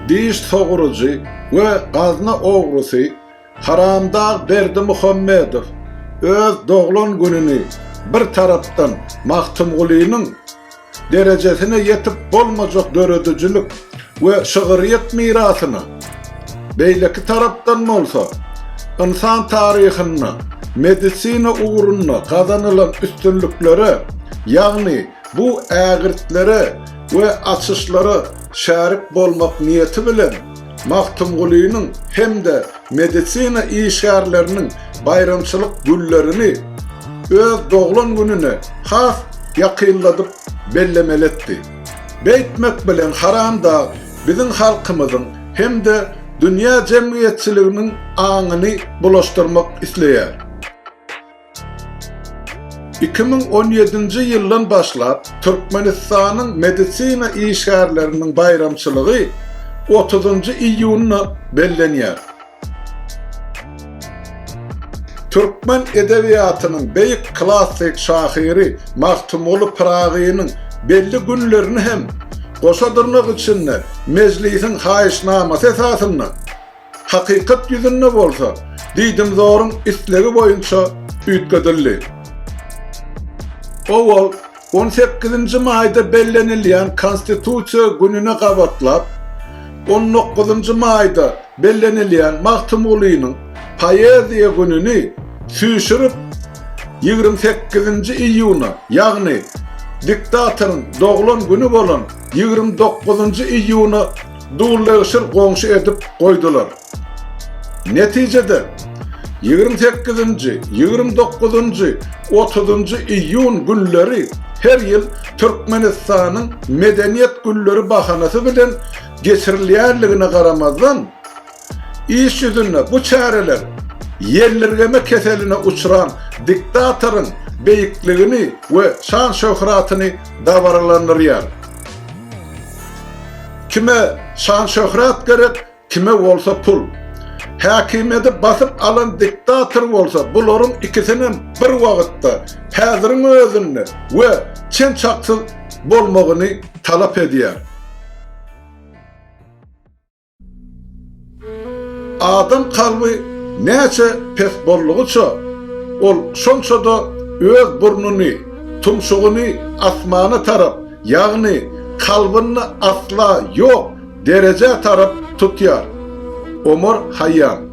Diş sogurujy we gazna ogrusy Haramdag Berdimuhammedow öz doglan gününi bir tarapdan Magtymgulynyň derejesine ýetip bolmajak döredijilik we şygyrýet mirasyna, beýleki tarapdan bolsa ynsan taryhynda medisina ugrunda gazanylan üstünliklere, ýagny bu ägirtlere we açyşlara şärik bolmak niýeti bilen, Magtymgulynyň hem-de medisina işgärleriniň baýramçylyk güllerini öz doglan gününe has ýakynladyp bellemeli etdi. Beýtmek bilen Haramdag biziň halkymyzyň hem-de dünýä jemgyýetçiliginiň aňyny bulaşdyrmak isleýär. Iki müň on ýedinji ýyldan başlap Türkmenistanyň medisina işgärleriniň baýramçylygy otuzynjy iýunda bellenýär. Türkmen edebiýatynyň beýik klassyk şahyry Magtymguly Pyragynyň belli günlerini hem, goşa dyrnak içinde, Mejlisiň haýyşnamasy esasynda Hakykat ýüzünde bolsa, diýdimzoryň islegi boýunça üýtgedildi. Owal, on sekizinji maýda bellenilýän Konstitusiýa gününe gabatlap, on dokuzynjy maýda bellenilýän Magtymgulynyň poeziýa gününi süýşürip, ýigrimi sekizinji iýuna, ýagny diktatoryň doglan güni bolan ýigrimi dokuzynjy iýuna Dullegşir goňşy edip goýdular. Netijede, ýigrimi sekizinji, ýigrimi dokuzynjy, otuzynjy iýun günleri her ýyl Türkmenistanyň Medeniýet günleri bahanasy bilen geçirilýänligine garamazdan, Iş ýüzünde bu çäreler ýellirgeme keseline uçran diktatoryň beýikligini we şan-şöhratyny dabaralandyrýar. Kime şan-şöhrat gerek, kime bolsa pul. Häkimiýeti basyp alan diktator bolsa bularyň ikisinem bir wagtda, häziriň özünde we çen-çaksyz bolmagyny talap edýär. Adam kalby näçe pes boldugyça, ol şonça-da öz burnuny, tumşugyny asmana tarap, ýagny kalbyny asla ýok derejä tarap tutýar. Omar Haýýam.